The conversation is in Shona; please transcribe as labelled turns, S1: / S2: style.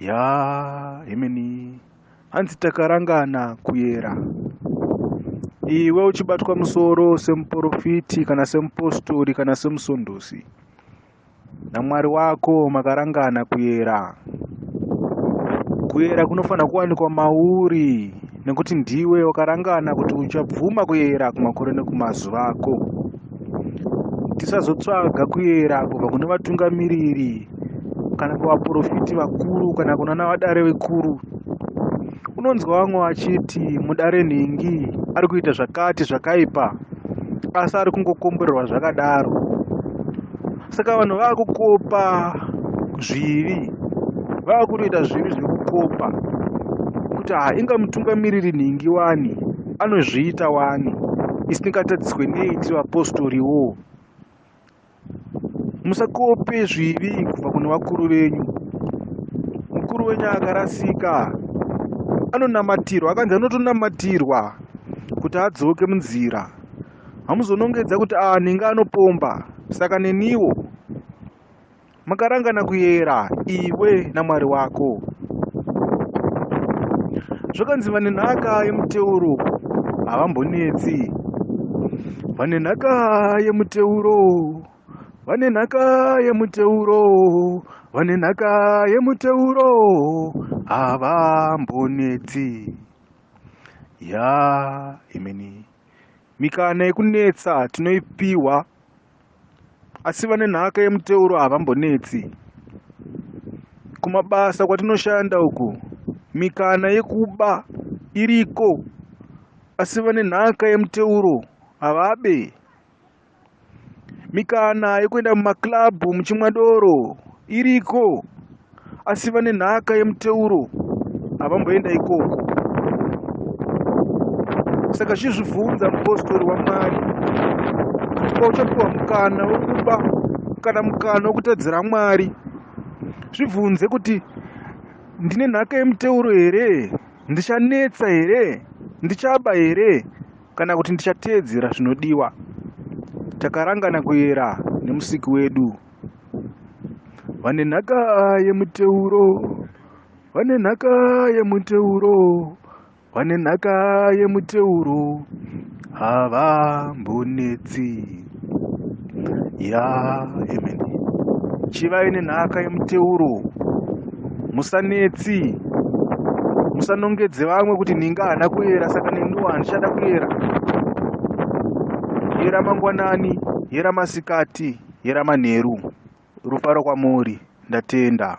S1: Yaa hemeni hanzi takarangana kuyera. Iwe uchibatwa musoro semuporofiti kana semupostori kana semusondosi naMwari wako makarangana kuyera. Kuyera kunofanira kuwanikwa mauri. nekuti ndiwe wakarangana kuti uchabvuma kuyera kumakore nekumazuva ako tisazotsvaga kuyera kubva kune vatungamiriri kana kuvaprofiti vakuru kana kunana vadare vekuru unonzwa vamwe vachiti mudare nhingi ari kuita zvakati zvakaipa asi ari kungokomborerwa zvakadaro saka vanhu vakukopa zvivi vakutoita zvivi zvekukopa kuti ha inga mutungamiriri nhingi wani anozviita wani isingatadziswe nei tiri vapostoriwo musakope zvivi kubva kune vakuru venyu mukuru wenyu akarasika anonamatirwa akanzi anotonamatirwa kuti adzoke munzira hamuzonongedza kuti aa nhingi anopomba saka neniwo makarangana kuyera iwe namwari wako zvakanzi vane nhaka yemuteuro havambonetsi vane nhaka yemuteuro vane nhaka yemuteuro vane nhaka yemuteuro havambonetsi ya imini Mikana yekunetsa tinoipihwa asi vane nhaka yemuteuro havambonetsi. Kumabasa kwatinoshanda uku mikana yekuba iriko asi vane nhaka yemuteuro havabe. Mikana yekuenda mumakilabhu muchimwa doro iriko asi vane nhaka yemuteuro havamboenda ikoko. Saka chizvibvunza mupostori waMwari kuti pauchapiwa mukana wekuba kana mukana wekutadzira Mwari, zvibvunze kuti ndine nhaka yemuteuro here? Ndichanetsa here? Ndichaba here? kana kuti ndichateedzera zvinodiwa takarangana kuyera nemusiki wedu vane nhaka yemuteuro vane nhaka yemuteuro vane nhaka yemuteuro havambonetsi ya amen chivai nenhaka yemuteuro musanetsi musanongedze vamwe kuti ninga haana kuyera saka neniwo handichada kuyera yera mangwanani yera masikati yera manheru rufaro kwamuri ndatenda